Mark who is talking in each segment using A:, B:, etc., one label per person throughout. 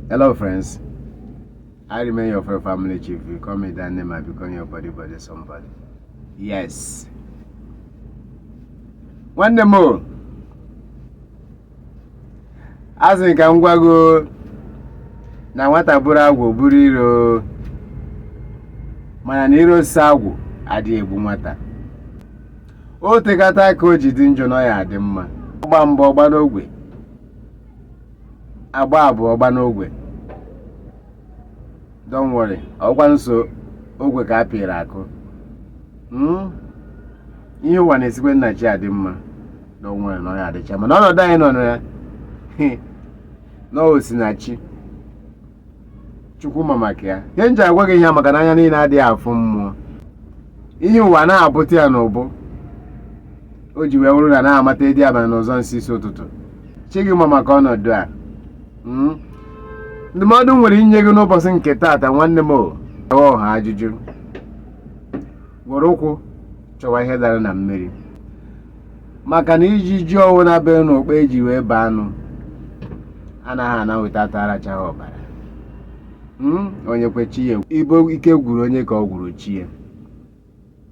A: Hello, friends. I remain your friend, family chief. You call me that name, I become your body, body, somebody. Yes. Nwanne m o, a sị ka m gwa gị o, na nwata bụrụ agwụ bụrụ iro o. mana na iro si agwụ adịghị egbu nwata o tekata ka o ji dị njọ na ọ ya adị mma ọ gba mbụ ọ gba n'ogwe a gba abụọ ọ gba n'ogwe don't worry ọ wụkwa nsọ ogwe ka a pịịrị akụ Mm? ihe ụwa na-esikwa na chi adị mma don't worry na ọ ya adịcha mma na ọnọdụ anyị nọ na ya na o si na chi chukwu ma maka ya ihe m ji agwa gị ihe a maka na anya niile adịghị afụ mmụọ ihe ụwa anaghị abụta ya n'ụbụ o ji wee wụrụ na a na-amata ịdị abalị n'ụzọ nsị isi ụtụtụ chi gị ma maka ọnọdụ a Mm. ndụmọdụ m nwere inye gị n'ụbọchị nke taata nwanne m o jewe ọha ajụjụ were ụkwụ chọwa ihe dara na mmiri maka na ijiji ọwụna bere n'okpe e ji wee baa anụ anaghị ana weta ata arachaghị ọbara Mm, onye kwe chi ya ekwe ike gwụrụ onye ka ọ gwụrụ chi ya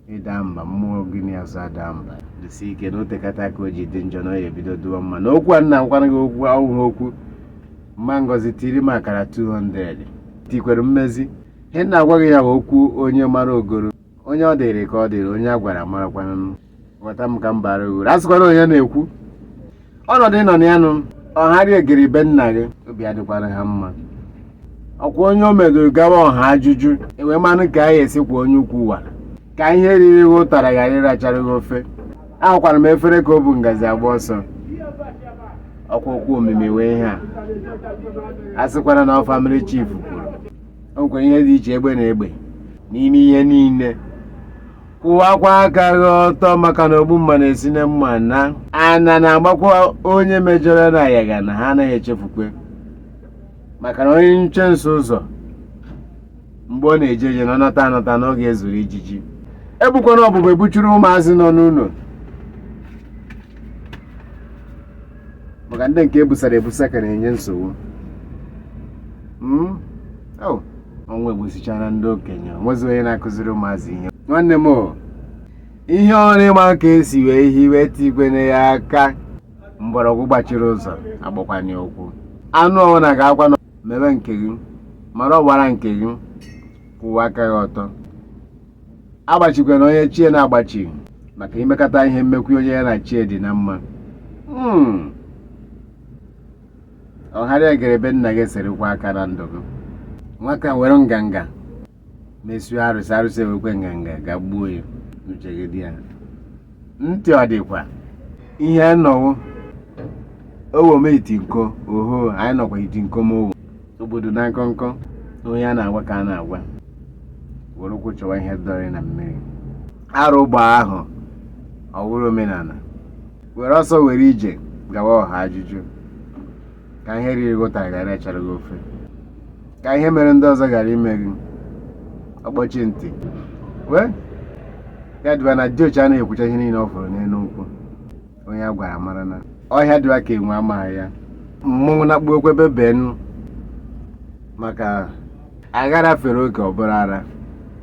A: ị da mba mmụọ gị n'azụ ada mba dịsi ike na o tekata ka o ji dị njọ na ọ ya ebido dịwa mma na okwu a m na-agwa gị okwu ahụ wụ okwu mma Ngozi tiri m akara 200 tikwere mmezi ihe m na-agwa gị ya okwu onye mara o goro onye ọ dịrị ka ọ dịrị onye a gwara marakwana ghọta m ka m bara gị uru a sịkwana onye na-ekwu ọnọdụ ị nọ na ya nụ ọharị egiri be nna gị obi adịkwara ha mma ọ kwa onye o medoro gawa ọha ajụjụ e wee manụ ka a ya-esi kwọ onye ukwu wara ka ihe riri gị ụtara ghara ịrachara gị ofe ahụkwara m efere ka o bu ngazi agba ọsọ ọ kwa okwu omimi wụ ihe a a sịkwara na ọ family chief kwuru o nwekwara ihe dị iche egbe na egbe n'ime ihe niile kwụwakwa aka gị ọtọ maka na ogbu mma na-esi na mma na-ana na-agbakwa onye mejọrọ na ayaga na ha anaghị echefukwe maka na onye nyụchie nsị ụzọ mgbe ọ na-eje eje na ọ nata anata na ọ ga-ezuru ijiji ebukwana ọbụbụ ebuchuru ụmụazị nọ n'ụlọ maka ndị nke e busara ebusa ka na-enye nsogbu hmm? oh, ọnwụ egbusichana ndị okenye o nwezi onye na-akụziri ụmụazị ihe nwanne m ihe ọrụ ị ma ka e si wee hiwe tikwene ya aka mgbọrọgwụ gbachiri ụzọ agbakwanye ụkwụ anụ ọbụla ga-akwa na mebe nke gị mara ọgbara nke gị kwụwa aka gị ọtọ agbachikwana onye chi ya na-agbachi maka imekata ihe mekwu onye ya na chi ya dị na mma ọ gharịa egere be nna gị serikwa aka na ndụ gị nwata were nganga mesoo arụsị arụsị ewekwe nganga gagbuo ya uche gị dị ya ntị ọ dịkwa ihe anyị nọ wụ owo m iti nko oho anyị nọkwa iti nko m owo obodo na nkọnkọ onye a na-agwa ka a na-agwa were ụkwụ chọwa ihe dara na mmiri arụ gbaa ahọ ọ wụrụ omenala were ọsọ were ije gawa ọha ajụjụ ka ihe riri gị ụtara ghara ịrachara gị ofe ka ihe mere ndị ọzọ ghara ime gị ọkpọchi ntị wee ya dịba na diochi anaghị ekwucha ihe niile ọ fụrụ n'elu nkwụ onye a gwara mara na ọhịa dịwa ka enwe amaghị ya mmọnwụ na-akpụ okwe bebenụ maka aghara fere oke ọ bụrụ ara